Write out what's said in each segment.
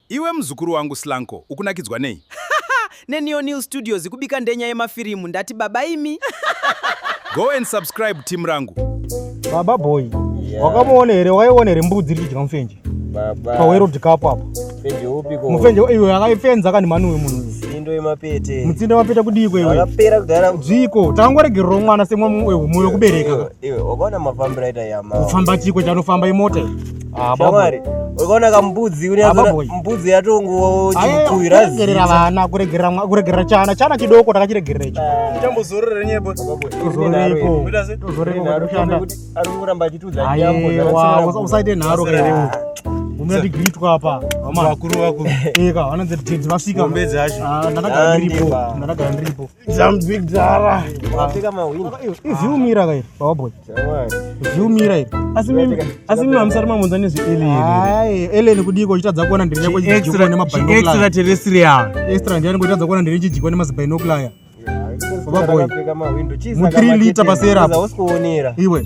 Iwe muzukuru wangu Slanko ukunakidzwa nei? NeNeoneal Studios ikubika ndenya yemafirimu ndati baba imi. Go and subscribe team rangu. Baba boy, yeah. Wakamuona here waiona here mbudzi iri kudya mufenje? Baba. Pawerod kapo apa. Mufenje upi ko? Mufenje iwe akaifenza kani mani uyu munhu. Mutsindo wemapete. Mutsindo wemapete kudii kwewe? Akapera kudhara. Dziko, tangoregerwa mwana semwe mumwe wekubereka. Iwe, wakaona mafambiro aita yama. Kufamba chiko chanofamba imota. Ah, shamwari ukaona kambudzi mbudzi yatongowa chikuirazira vana kuregerera chana chana chidoko takachiregerera icho ah. chambozorore nyepo usaite nharo umira tigiritswa apa vakuru vakuru eka vanonzi vasvika ndakagara ndiripo ndakagara ndiripo Zambigdara. Wapika mawini. Izviumira kai baba boy. Izviumira iri. Asi mimi asi mimi amusari mamunza nezvi alien. Hai, alien kudiko uchitadza kuona ndiri yako chijiko nema binocular. Extra terrestrial. Extra ndiyani kuitadza kuona ndiri chijiko nema binocular. Baba boy. Mu 3 liter pasera. Iwe.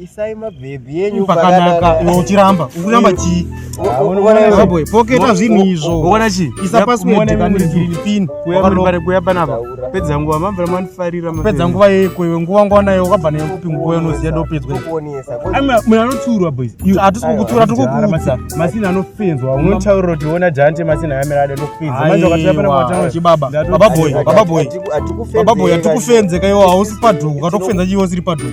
isai mabhebhi yenyu pakanaka iwe uchiramba ukuramba chii boy poketa zvinhu izvo uona chii isa password kanizini pin kuyarombare kuya panapa pedza nguva mambira manifarira pedza nguva yeko iwe nguva nguva nayo wakabva nayo kupi nguva yanoziya ndopedzwa munhu anotsiurwa boys hatisi kukutsiura tiri kukuudza masina anofenzwa unotaurira kuti ona jante masina yamira ade anofenza manje wakatira pana kwatanga chibaba baba boy baba boy baba boy atikufenze kaiwa hausi padhuku katokufenza chiwo siri padhuku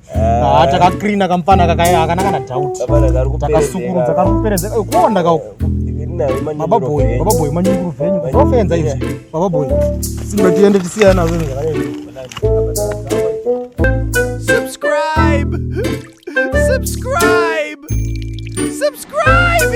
Ah, takacleana kamfana kakana kana doubt takasukurudza kakuperedza eh, kuonda ka baba boy baba boy manyunguru venyu kufenza izvi baba boy simba tiende tisiyana zvinhu subscribe subscribe subscribe